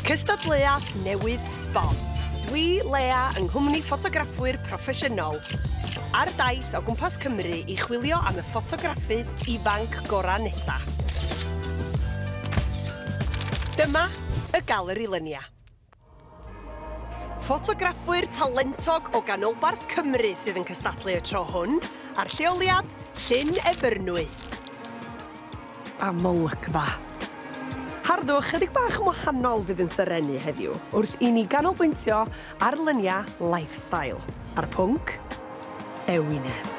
Cystadleuaeth newydd sbon. Dwi, Lea, yng nghwmni ffotograffwyr proffesiynol, ar daith o gwmpas Cymru i chwilio am y ffotograffydd ifanc gorau nesa. Dyma y Galeri Lynia. Ffotograffwyr talentog o ganolbarth Cymru sydd yn cystadlu y tro hwn a'r lleoliad, Llyn Ebyrnwy. Amlygfa. Harddwch chydig bach yn wahanol fydd yn serennu heddiw wrth i ni ganolbwyntio ar luniau lifestyle a'r pwnc ewinedd.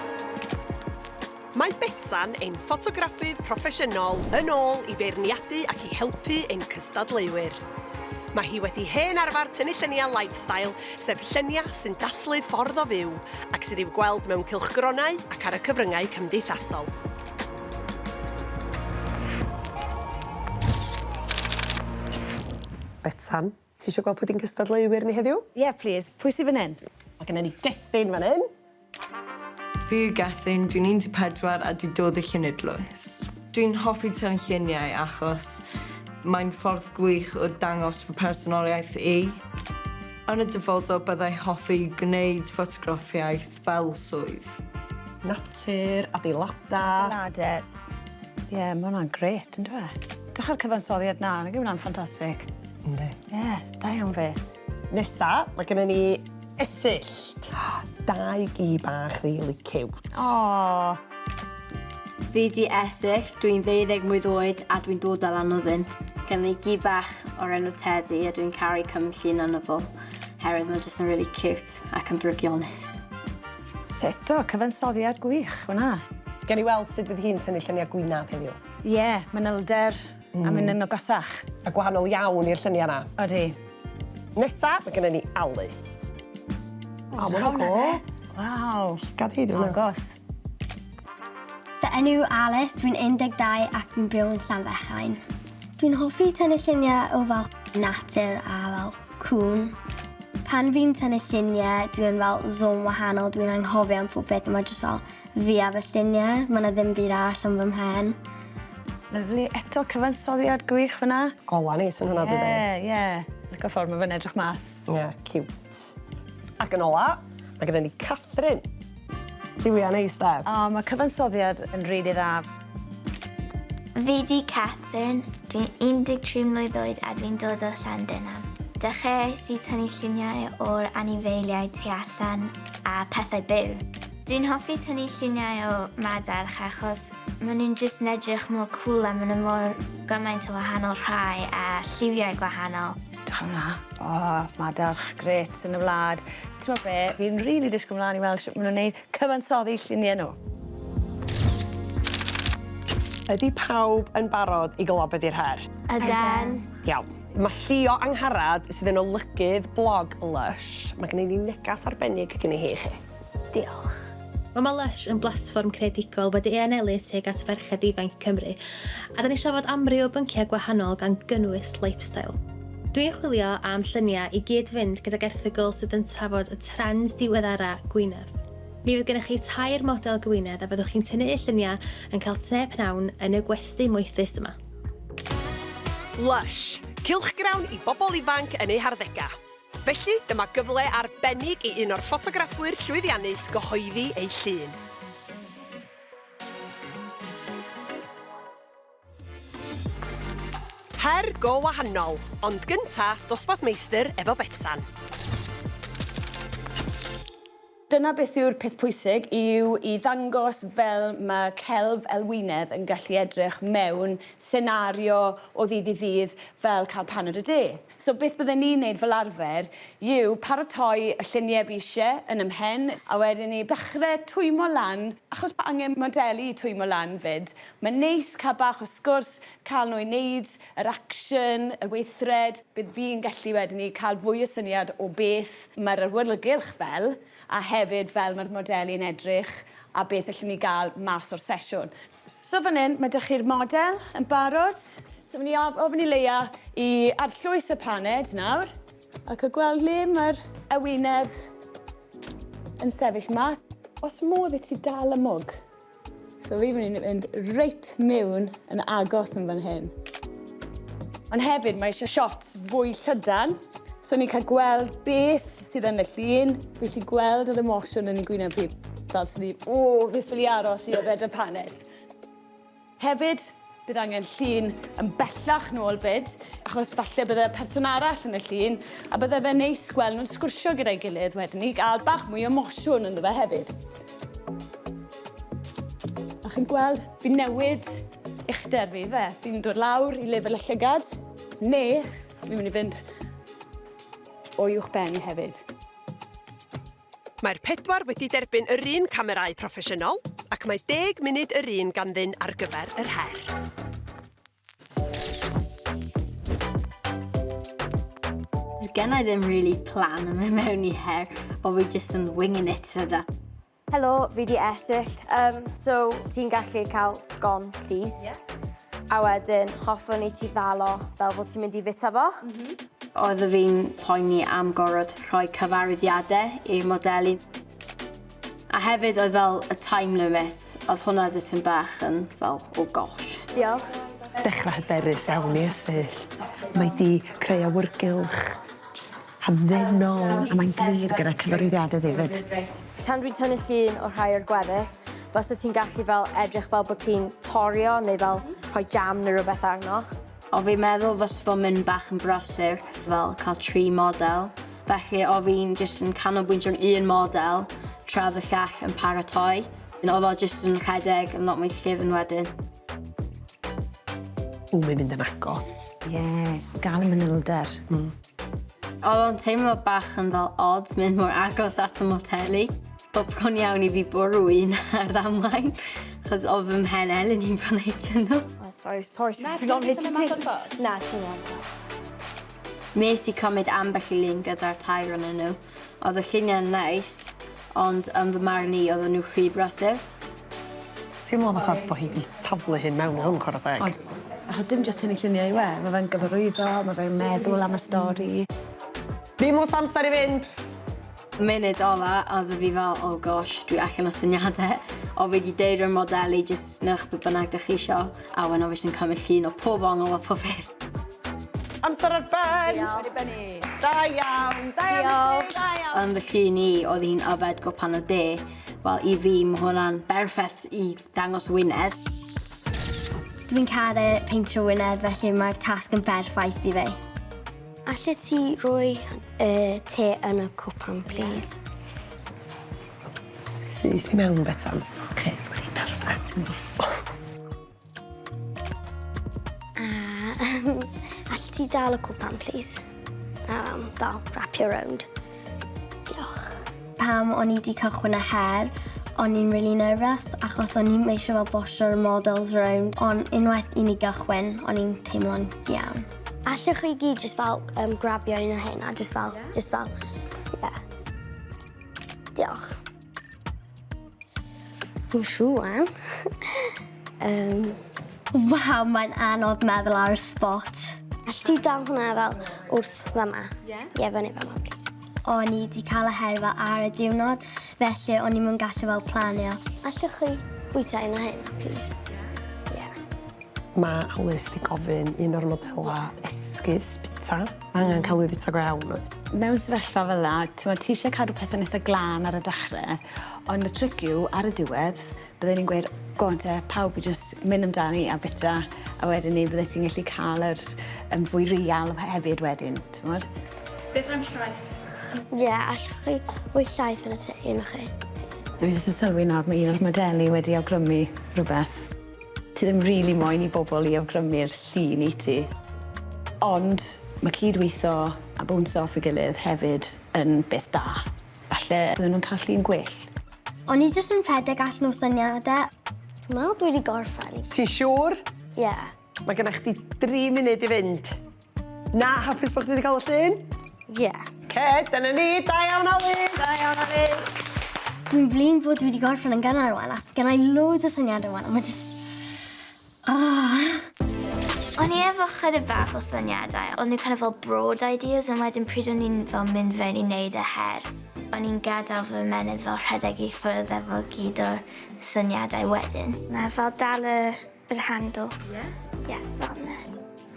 Mae Betsan, ein ffotograffydd proffesiynol, yn ôl i feirniadu ac i helpu ein cystadleuwyr. Mae hi wedi hen arfer tynnu lluniau lifestyle, sef lluniau sy'n dathlu ffordd o fyw, ac sydd i'w gweld mewn cylchgronau ac ar y cyfryngau cymdeithasol. Betsan. Ti isio gweld pwdin cystadleuwyr ni heddiw? Ie plîs, pwy sy fan hyn? Mae genna ni Gethin fan hyn. Fi yw Gethin, dwi'n 14 a dwi dod o Llynedlwys. Dwi'n hoffi tynlluniau achos mae'n ffordd gwych o dangos fy mhersonoliaeth i. Yn y dyfodol byddai hoffi gwneud ffotograffiaeth fel swydd. Natur, adeiladau. Na de. Ie, yeah, mae hwnna'n gret, yn dweud. Dych chi'r cyfansoddiad na, nag yw hwnna'n ffantastig? Ynddi. Ie, yeah, da iawn fe. Nesa, mae gennym ni esyllt. Dau gi bach really cute. Oh. Fi di esyllt, dwi'n ddeuddeg mlwydd oed a dwi'n dod o Lanwddyn. Gen i gi bach o'r enw Teddy a dwi'n caru cymryd llun arno fo, herwydd mae'n jyst yn really cute. Ffit ac yn ddrygionus. Eto, cyfansoddiad gwych fan'na. Gawn ni weld sut fydd hi'n synnu lluniau gwynab heddiw. Ie, manylder a mynd yn agosach. A gwahanol iawn i'r lluniau 'na. Odi. Nesa, mae genna ni Alys. O, ma' hwnna'n go! Waw! Llygad hi, dwi me'wl. Agos. Fy enw yw Alys, dwi'n 12 ac fi'n byw yn Llanfechain. Dwi'n hoffi tynnu lluniau o fel natur a fel cŵn. Pan fi'n tynnu lluniau, dwi'n fel zone wahanol, dwi'n anghofio am pob beth, mae jyst fel fi a fy lluniau, mae yna ddim byd arall yn fy mhen. Lyfli, eto cyfansoddiad gwych fyna. Gola neis yn hwnna dydi? Ie, ie. Lico ffordd mae fe'n edrych mas. Ie, ciwt. Ac yn ola, mae gyda ni Catherine. Duwiau neis de? O, mae cyfansoddiad yn rili really dda. Fi di Catherine, dwi'n 13 mlwydd oed a dwi'n dod o Llandenan. Dechreuais i tynnu lluniau o'r anifeiliaid tu allan a pethau byw. Dwi'n hoffi tynnu lluniau o madarch achos maen nhw'n jyst yn edrych mor cwl a maen nhw mor gymaint o wahanol rhai a lliwiau gwahanol. Diolch am 'na. O madarch grêt yn y wlad. T'mo' be' fi'n rili dishgwl mlan i weld shwt ma' nw'n neud cyfansoddi llunie nw. Ydi pawb yn barod i glywed be' 'di'r her? Yden. Iawn. Ma' Llio Angharad sydd yn olygydd blog Lush, ma' gennyn ni negas arbennig gynni hi i chi. Diolch. Mae Ma Lush yn blatfform creadigol wedi ei anelu tuag at ferched ifanc i Cymru, a 'da ni'n trafod amryw o bynciau gwahanol gan gynnwys lifestyle. Dw i'n chwilio am lluniau i gyd-fynd gydag erthygl sydd yn trafod y trends diweddara gwynedd. Mi fydd gennych chi tair model gwynedd a byddwch chi'n tynnu'u lluniau yn cael te pnawn yn y gwesty moethus yma. Lush, cylchgrawn i bobl ifanc yn eu harddegau. Felly, dyma gyfle arbennig i un o'r ffotograffwyr llwyddiannus gyhoeddi ei llun. Her go wahanol, ond gynta, dosbarth meistr efo Betsan. Dyna beth yw'r peth pwysig, yw i ddangos fel ma' celf elwynedd yn gallu edrych mewn senario o ddydd i ddydd fel cael paned o de. So beth bydden ni'n neud fel arfer yw paratoi y llunie fi isie yn 'y mhen a wedyn 'ny dachre twymo lan, achos bo' angen modelu i twymo lan 'fyd, ma'n neis ca'l bach o sgwrs, ca'l nhw i neud yr action, y weithred, bydd fi'n gallu wedyn 'ny ca'l fwy o syniad o beth Mae'r awyrgylch fel, a hefyd fel mae'r modelu yn edrych a beth allwn ni gael mas o'r sesiwn. So fan hyn, mae 'da chi'r model yn barod. So fi'n mynd i ofyn i Leia i arllwys y paned nawr a cael gweld le mae'r ewinedd yn sefyll mas. Oes modd i ti dal y mwg? So fi mynd i fynd reit mewn yn agos yn fan hyn. Ond hefyd mae eisiau shots fwy llydan, so ni'n cael gweld beth sydd yn y llun, fi'n gallu gweld yr emosiwn yn ei gwyneb hi, fel sy'n dweud, o, fi ffili aros i yfed y panes. Hefyd, Bydd angen llun yn bellach nôl 'fyd, achos falle bydde person arall yn y llun, a bydde fe'n neis gweld nhw'n sgwrsio gyda'i gilydd wedyn i gael bach mwy o mosiwn ynddo fe hefyd. A chi'n gweld, fi'n newid uchder fi fe. Fi'n dod lawr i lefel y llygad, neu fi'n mynd i fynd o uwch ben hefyd. Mae'r pedwar wedi derbyn yr un camerâu proffesiynol ac mae deg munud yr un ganddyn ar gyfer yr her. gen i ddim really plan yn mynd mewn i her, o fi just yn winging it yda. Helo, fi di Esill. Um, so, ti'n gallu cael sgon, please? Yeah. A wedyn, hoffwn i ti ddalo fel bod ti'n mynd i fita fo. Mm -hmm. Oeddaf fi'n poeni am gorod rhoi cyfarwyddiade i'r modelu. A hefyd oedd fel y time limit, oedd hwnna dipyn bach yn fel oh gosh. Diolch. Dechrau hyderus iawn i Ystwyll. Mae 'di creu awyrgylch jyst hamddenol a mae'n glir gyda cyfarwyddiade ddi 'fyd. Tan dwi'n tynnu llun o rhai o'r gweddill, fysa ti'n gallu fel edrych fel bod ti'n torio neu fel rhoi jam neu rywbeth arno. O fi'n meddwl fysa fo'n mynd bach yn brysur fel cael tri model, felly o fi'n jyst yn canolbwyntio ar un model tra fy llall yn paratoi, yn o fel jyst yn rhedeg yn lot mwy llyfn wedyn. O mae'n mynd yn agos. Ie, gal y manylder. Hmm. Odd o'n teimlo bach yn fel od mynd mor agos at y moteli. Wel bron iawn i fi bwrw un ar ddamwain, chos o fy mhen Elin i'n fan hitio nhw. Oh, sorry, sorry, Na, ti'n gwneud hynny mas o'r ffordd? Na, ti'n gwneud Nes i cymryd ambell i lun gyda'r tair o'n nhw. Oedd y lluniau'n neis, ond yn fy marn i, oedd nhw rhy brysur. Teimlo fatha bod hi 'di taflu hyn mewn i hwn, chwarae teg. Ond, achos dim jyst hyn i lluniau yw e, mae fe'n gyfarwyddo, mae fe'n meddwl am y stori. Dim lot o amser i fynd! Y munud ola oedd fi fel oh gosh dwi allan o syniade o fi di deud rwy'n modelu jyst newch be bynnag dych chi isio a wen o fi sy'n cymryd llun o pob ongl a pob peth. Amser ar ben! Diolch. Da iawn! Da iawn i chi! Da iawn! Yn fy llun i oedd hi'n yfed gwpan o de. Wel i fi ma' hwnna'n berffeth i Dangos wyneb. Dw i'n caru peintio wyneb felly mae'r tasg yn berffaith i fi. Allet ti roi y te yn y cwpan plîs? Syth i mewn Betsan. Oce, dw i'n nerfus dw A allet ti dal y cwpan plîs? Yym dal, wrap you round. Diolch. Pam o'n i 'di cychwyn y her, o'n i'n really nervous achos o'n i'n eisiau fel bosio'r models rownd, ond unwaith i ni gychwyn, o'n i'n teimlo'n iawn. Allwch chi gyd just fel um, grabio un o hyn a just fel, yeah. just fel, yeah. Diolch. Dwi'n siŵr. um. Waw, mae'n anodd meddwl ar y spot. Allwch chi dal hwnna fel wrth fama? Ie. Yeah. Ie, yeah, fyny fama, please. O'n i 'di cael y herfa ar y diwrnod, felly o'n i'm yn gallu fel planio. Allwch chi bwyta un o hyn, please? Yeah. Mae Alys 'di gofyn un o'r modela esgus bita. Mae angen cael ei fita go iawn, oes? Mewn sefyllfa fel 'na, t'mod, ti eisiau cadw pethau'n eitha glân ar y dechrau, ond y tric yw, ar y diwedd, Bydden i'n gweud go on te pawb i jyst myn' amdani a bita a wedyn 'ny byddet ti'n gallu ca'l yr yym fwy real he- hefyd wedyn t'mod? Beth am llaeth? Ie allwch chi roi llaeth yn y tŷ un o chi? Dwi jyst yn sylwi nawr ma' un o'r modelu wedi awgrymu rwbeth. Ti ddim rili moyn i bobol i awgrymu'r llun i ti. Ond ma' cyd-witho a bownsio off ei gilydd hefyd yn beth da. Falle bydden nw'n ca'l llun gwell. O'n i jyst yn rhedeg allan o syniadau. Dwi'n meddwl dwi wedi gorffen. Ti siŵr? Ie. Yeah. Mae gennych chdi dri munud i fynd. Na, hapus bod chdi wedi cael y llun? Ie. Yeah. Ce, dyna ni, da iawn Alun! Da iawn Alun! Dwi'n flin bod dwi wedi gorffen yn gynnar rwan, ac gennau loads o syniadau rwan, a mae jyst... Ah! O'n i efo chydig bach o syniadau, o'n nhw kind of fel broad ideas, ond wedyn pryd o'n i'n fel mynd fewn i neud e her, o'n i'n gadael fy ymenydd fel rhedeg i ffwrdd efo gyd o'r syniadau wedyn. Na, fel dal y yr handle. Ie? Ie, fel 'na.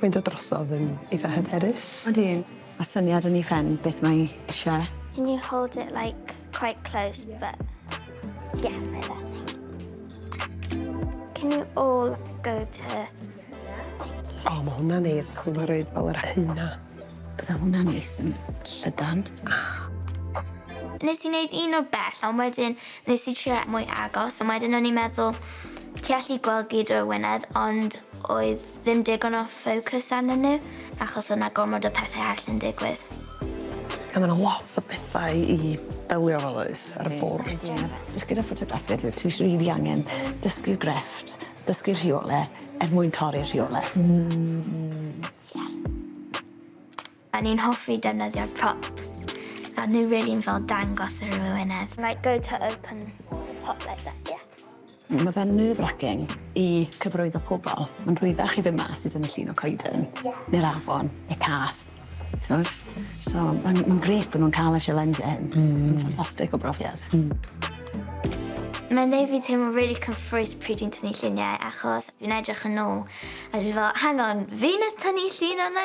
Mae'n dod drosodd yn eitha hyderus. Odi. A syniad yn ei phen beth mae eisiau? Can you hold it like quite close but yeah, like that thing. Can you all go to O, mae hwnna'n neis, achos mae'n rhaid fel yr hynna. Bydda hwnna'n neis yn llydan. Nes i wneud un o bell, ond wedyn nes i trio mwy agos, ond wedyn o'n i'n meddwl, ti allu gweld gyd o'r wynedd, ond oedd Ddim digon o focus arnyn nhw achos o' 'na gormod o pethe arall yn digwydd. A ma' 'na lot o bethau i delio efo does ar y bwrdd. Ydi ie. Jyst gyda ffotograffi dwyt ti js rili angen dysgu'r grefft, dysgu'r rheole er mwyn torri'r rheole. Hmm. Ie. O'n i'n hoffi defnyddio'r props. O'n nhw rili fel dangos ar yr wyneb. Like go to open pop like that yeah. Mae fe'n nerve racking i cyfarwyddo pobl. Mae'n rhwyddach i fynd mas i dynnu llun o coeden. Ie. Neu'r afon, neu cath. T'mod? So mae'n mae'n grêt bod nhw'n cael y sialensio hyn. Mm. Mae'n ffantastig o brofiad. Mm. Mae'n neud fi teimlo really cyffrous pryd i'n tynnu lluniau achos fi'n edrych yn ôl a dwi fel hang on, fi nath tynnu llun yna?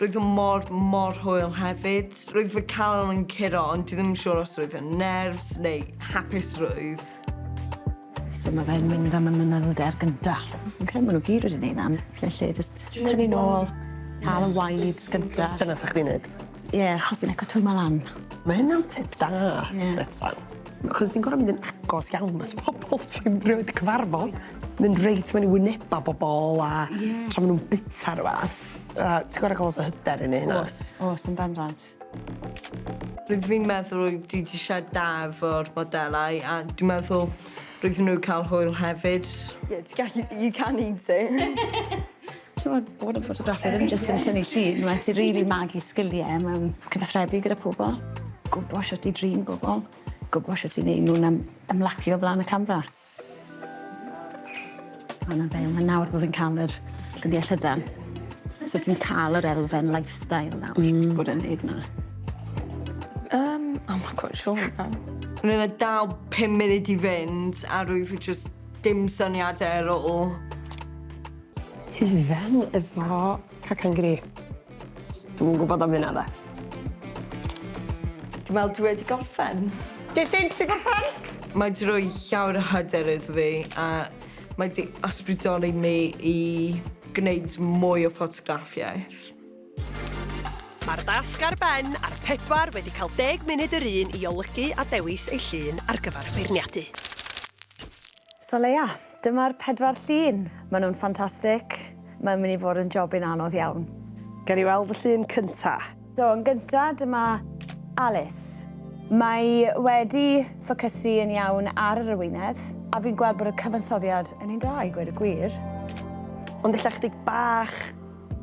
Roedd o mor, mor hwyl hefyd. Roedd fy calon yn curo ond dwi ddim yn siŵr os roedd yn nerves neu hapusrwydd. So mae fe'n mynd am y mynylder gynta. Ok, maen nhw gyd wedi neud na, felly just tynnu nôl, cael y wides gynta. Dyna sa chdi'n neud? Ie, yeah, achos fi'n eco twymo lan. Mae hynna'n tip da, yeah. Betsan. Achos ti'n gorau mynd yn agos iawn at pobl ti'n rhywbeth cyfarfod. Mynd reit mewn i wyneba bobl a yeah. tra maen nhw'n bita rhywbeth. A ti gor'o' ca'l lot o hyder i neu' hynna. O's o's yn bendant. Rydw i'n meddwl rwyt ti 'di siarad da efo'r modelau a dwi'n meddwl rydyn nhw cael hwyl hefyd. Ie ti gallu you can eat it. T'mod bod yn ffotograffydd ddim jyst yn tynnu llun ma' raid ti rili magu sgilie mewn cyfathrebu gyda pobol. Gwbo shwt i drin bobol. Gwbo shwt i neu' nw'n ym- ymlacio o flan y camra. Wel na fe, ma' nawr bo' fi'n ca'l yr dyddia' llydan. So ti'n ca'l yr elfen lifestyle nawr. Hmm. Ti bod yn neud 'na? Yym I'm not quite sure you know. O'n i fel dal pum munud i fynd a rwyf fi jyst dim syniade ar ôl. Ti fel efo cacan grip. Dwi'm yn gwybod am hynna 'de. Dwi'n meddwl dwi wedi gorffen. Do you think ti 'di gorffen? Mae 'di rhoi llawer o hyder iddo fi a mae 'di ysbrydoli mi i gwneud mwy o ffotograffiaeth. Mae'r dasg ar ben a'r pedwar wedi cael deg munud yr un i olygu a dewis eu llun ar gyfer feirniadu. So Leia, dyma'r pedwar llun. Maen nhw'n ffantastig. Mae'n mynd i fod yn jobyn anodd iawn. Gawn ni weld y llun cynta'? So yn gynta', dyma Alice. Mae wedi ffocysu yn iawn ar yr arwyneb, a fi'n gweld bod y cyfansoddiad yn un da i gweud y gwir. Ond ella chydig bach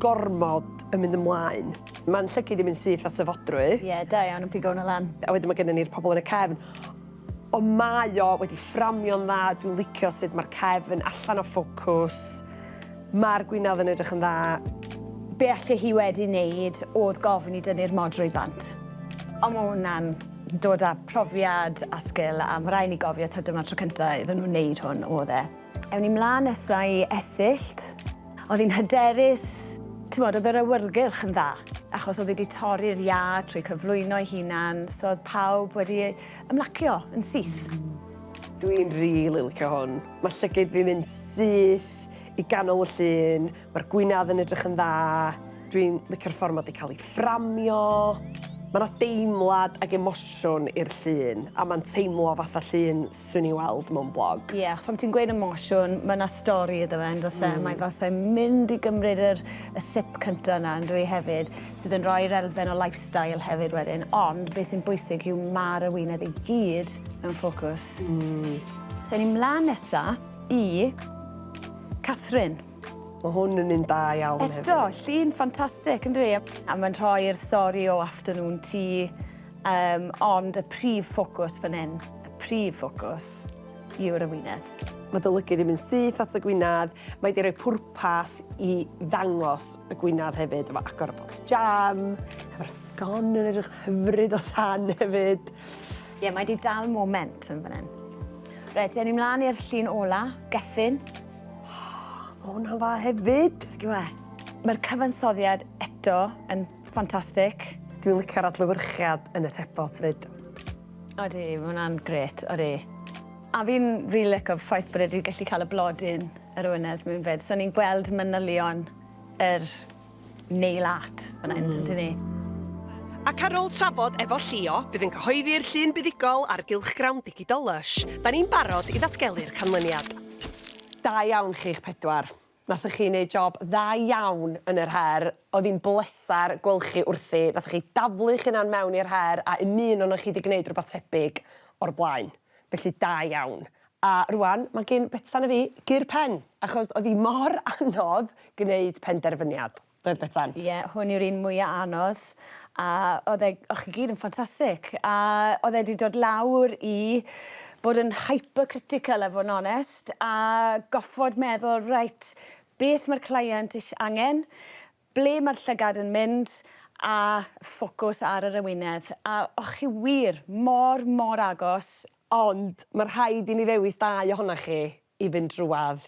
gormod yn mynd ymlaen. Mae'n llygid yn mynd syth at y fodrwy. Ie, da iawn yn pigo hwnna lan. A wedyn mae gennon ni'r pobl yn y cefn. Ond mae o wedi fframio'n dda, dwi'n licio sut mae'r cefn allan o ffocws, mae'r gwinadd yn edrych yn dda. Be alle hi wedi neud odd gofyn i dynnu'r mod drwy bant. Ond ma hwnna'n dod a profiad a sgil a ma rai ni gofio t'od dyma'r tro cynta iddyn nhw neud hwn odd e. Ewn ni mlan nesa i Esyllt. Odd hi'n hyderus, t'mod odd yr awyrgylch yn dda achos odd hi di torri'r iâ trwy cyflwyno ei hunan so odd pawb wedi Ymlacio yn syth. Dwi'n rili licio hwn. Mae llygid fi'n mynd syth i ganol y llun, mae'r gwynedd yn edrych yn dda, dwi'n licio'r ffordd mae wedi cael ei fframio. Mae yna deimlad ac emosiwn i'r llun, a mae'n teimlo fatha llun swn i'n weld mewn blog. Ie, yeah, achos pan ti'n gweud emosiwn, mae yna stori iddo fe, yn does e? Mm. Mae fel sa'n mynd i gymryd yr, y sip cyntaf yna, yn dwi hefyd. sydd yn rhoi'r elfen o lifestyle hefyd wedyn, ond beth sy'n bwysig yw ma'r arwyneb i gyd mewn ffocws. Mm. So ni mlaen nesa i Catherine. Mae hwn yn un da iawn hefyd. Eto, llun ffantastig, ynddo e? A mae'n rhoi'r stori o afternoon tea, um, ond y prif ffocws fan hyn, y prif ffocws yw'r arwyneb. Mae dy lygyd yn mynd syth at y gwynedd, mae di rhoi pwrpas i ddangos Y gwinadd hefyd efo agor y bocs jam, efo'r sgon yn edrych hyfryd o than hefyd. Ie, yeah, mae di dal moment yn fan hyn. Reit, ewn ni mlaen i'r llun ola, Gethin. Oh, o, hwnna'n dda hefyd. Ac yw e? Mae'r cyfansoddiad eto yn ffantastig. Dwi'n licio'r adlywyrchiad yn y tebot fyd. Odi, mae hwnna'n gret, odi. A fi'n rili really licio ffaith bod wedi gallu cael y blodyn Yr Wynedd mewn fyd. So ni'n gweld manylion yr nail art fan hyn, ydyn ni? Ac ar ôl trafod efo Llio, bydd yn cyhoeddi'r llun buddugol ar gylchgrawn digidol Lush. Da ni'n barod i ddatgelu'r canlyniad. Da iawn chi'ch pedwar. Nathoch chi neud job dda iawn yn yr her. Oedd hi'n bleser gweld chi wrthi. Nathoch chi daflu'ch hunan mewn i'r her a un un onoch chi 'di gneud rwbath tebyg o'r blaen. Felly da iawn. A rwan mae gin Betsan a fi gur pen! Achos oedd hi mor anodd gwneud penderfyniad, doedd Betsan? Ie, hwn yw'r un mwya anodd. A oedd e... o'ch chi gyd yn ffantastic. A oedd e 'di dod lawr i bod yn hypercritical a fod yn onest, a goffod meddwl, reit, beth mae'r client ish- angen? Ble mae'r llygad yn mynd a ffocws ar yr ewinedd. A o'ch chi wir mor, mor agos. Ond mae rhaid i mi ddewis dau ohonoch chi i fynd drwadd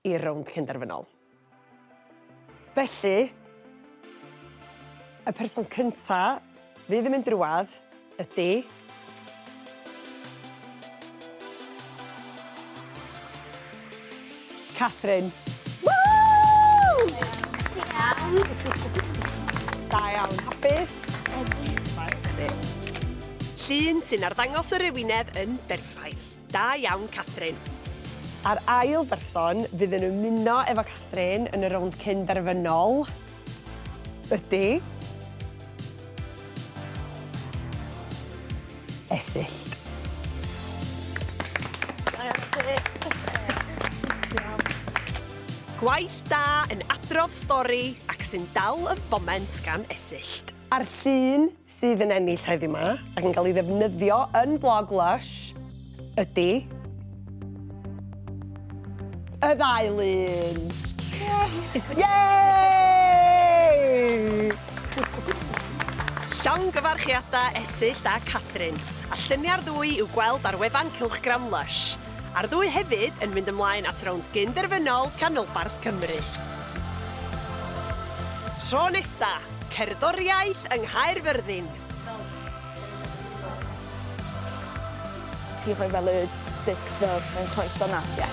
i'r rownd cynderfynol. Felly, y person cynta'. Fydd yn mynd i'r wlad? Ydy. Catherine. Woo! Da iawn. Hapus? Ydy. Llun sy'n arddangos yr ewinedd yn berffaith. Da iawn Catherine. A'r ail berson fydd yn ymuno efo Catherine yn y rownd cyn derfynol ydy... Esyllt. Gwaith da yn adrodd stori ac sy'n dal y foment gan Esyllt. A'r llun sydd yn ennill heddiw 'ma, ac yn cael ei ddefnyddio yn blog Lush, ydi y ddau lun! Llongyfarchiadau Esyllt a Catherine, a lluniau'r ddwy i'w gweld ar wefan cylchgrawn Lush, a'r ddwy hefyd yn mynd ymlaen at rownd gyn-derfynol Canolbarth Cymru. Tro nesa! Cerddoriaeth yng Nghaerfyrddin. Ti'n rhoi fel y sticks fel yn croeso 'na? Ie.